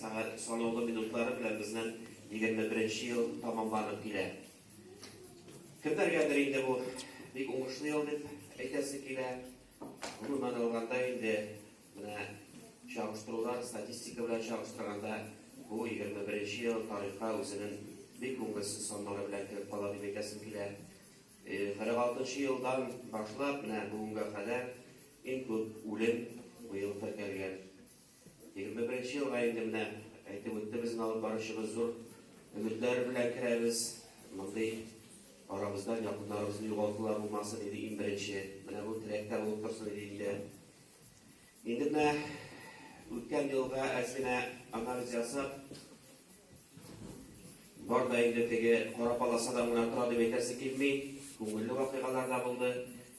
Сәгать санаулы минутлары белән безнең егерме беренче ел тәмамланып килә. Кемнәргәдер инде бу бик уңышлы ел дип әйтәсе килә. Гомумән алганда инде менә чагыштырулар, статистика белән чагыштырганда бу егерме беренче ел тарихка үзенең бик күңелсез саннары белән кереп кала дип әйтәсем килә. Кырык алтынчы елдан башлап менә бүгенгә кадәр иң күп үлем быел теркәлгән. Егерме беренче елга инде менә әйтеп үтте безнең алып баручыбыз, зур өметләр белән керәбез. Мондый арабыздан якыннарыбызны югалтулар булмасын иде иң беренче. Менә бу теләк тә булып торсын иде инде. Инде менә үткән елга әз генә анализ ясап, Бар да инде теге кара паласа да гына тора дип әйтәсе килми. Күңелле вакыйгалар да булды.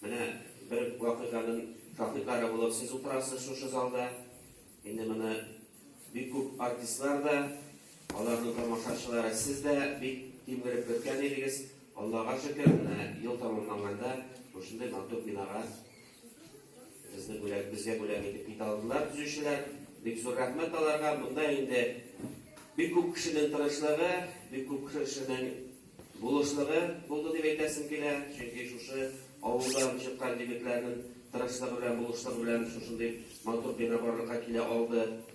Менә бер вакыйганың шаһитлары булып сез утырасыз шушы залда. Инде моны бик күп артистлар да, аларның тамашачылары сез дә бик тимгереп көткән идегез. Аллага шөкер, менә ел тәмамланганда шушындый матур бинага Безнең бүләк, безгә бүләк итеп китә алдылар төзүчеләр. Бик зур рәхмәт аларга. Монда инде бик күп кешенең тырышлыгы, бик күп кешенең булышлыгы булды дип әйтәсем килә. Чөнки шушы авылдан чыккан егетләрнең тырышлыгы белән, булышлыгы белән шушындый матур бина барлыкка килә алды.